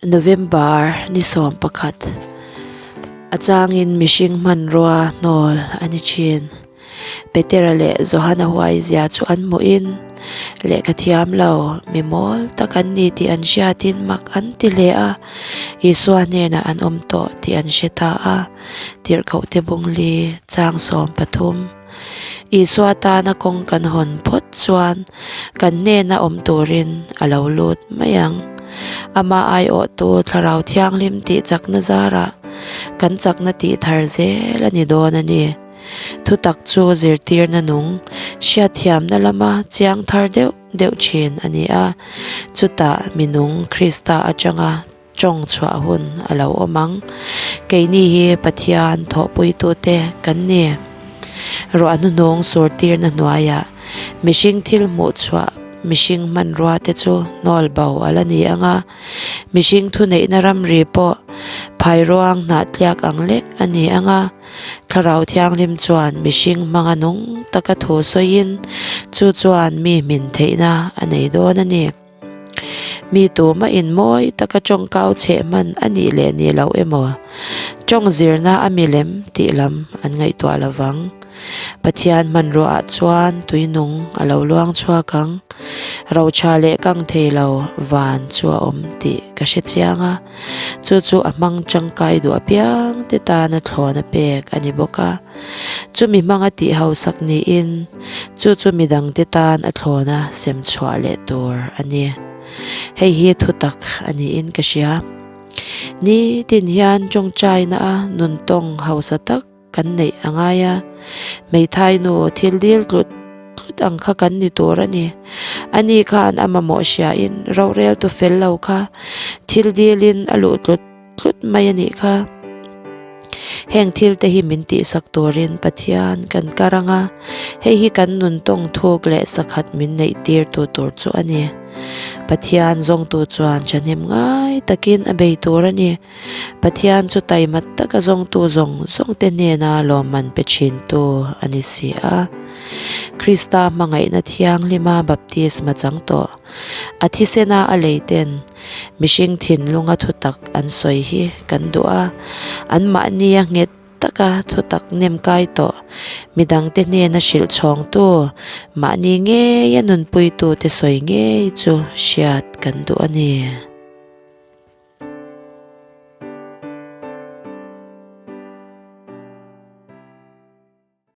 November ni sawm pakhat a changin mihring hmanrua hnawl a ni thin. Petera leh Johana huaizia chu an hmuhin, Leh ka thiam lo, mi mawl tak an ni tih an hriat in mak an ti hle a. Isua hnenah an awm tawh tih an hre ta a. Tirhkohte Bungli, chang sawm pathum. Isua tana kawng kan hawn phawt chuan kan hnena awm turin a lo lut mai ang. Amah aiawhtu Thlarau Thianghlim tih chakna zarah kan chakna tih thar zel a ni dawn a ni. Thutak chu zirtirna nung hriatthiamna lama chiang thar deuh deuh thin a ni a, chutah minung Krista atanga, Tawng chhuah hun a lo awm ang. Keini hi Pathian thawhpuitute kan ni. Ruahnuhnung surtirna hnuaiah mihring thil hmuh chhuah, mihring hmanruate chu nawlbo a la ni ang a. Mihring thuneihna ramri pawh phairuang hnahtliak ang lek a ni ang a. Thlarau Thianghlim chuan mihring hmanga nung taka thu sawiin chu chuan mi hmin theihna a nei dawn a ni. Mi tu mahin mawi taka ṭawngkau chheh hman a nih leh ni loh emaw? Ṭawng zirna a milem tih lam an ngaihtuah lo vang. Pathian hmanruaah chuan tuinung a lo luang chhuak ang. Rotha leh kang thei lo van chu a awm tih ka hre chiang a, chu chu a hmang ṭangkai duh apiangte tana thlawn a pek a ni bawk a. Chumi hmanga tih hausak niin, Chu chu midangte tan a thlawna sem chhuah leh tur a ni. Hei hi thutak a niin ka hria. Ni tin hian tawngtaina a nun tawng hausa tak kan neih a ngai a. Hmeithai nu thil dil tlut tlut ang kha kan ni tur a ni. Ani khan a mamawh hriain rorel tu fel lo kha thil dilin a luh tlut. tlut mai a nih kha. Heng thil te hi min tihsak turin Pathian kan karang a, hei hi kan nun tawng thuk leh sakhat min neih tir tu tur chu a ni. Pathian zawngtu chuan thahnem ngai takin a bei tur a ni. Pathian chu taimat taka zawngtu zawng zawng te hnena lawmman pe thintu a ni si a. Krista hmangaihna thianghlima baptisma chang tawh a thisena a lei ten, Mihring thinlunga thutak an sawi hi kan duh a, anmahnia nghet taka thutak nem kai tawh, midangte hnena hrilh chhawngtu, mahni ngeia nunpuitute sawi ngei chu hriat kan duh a ni.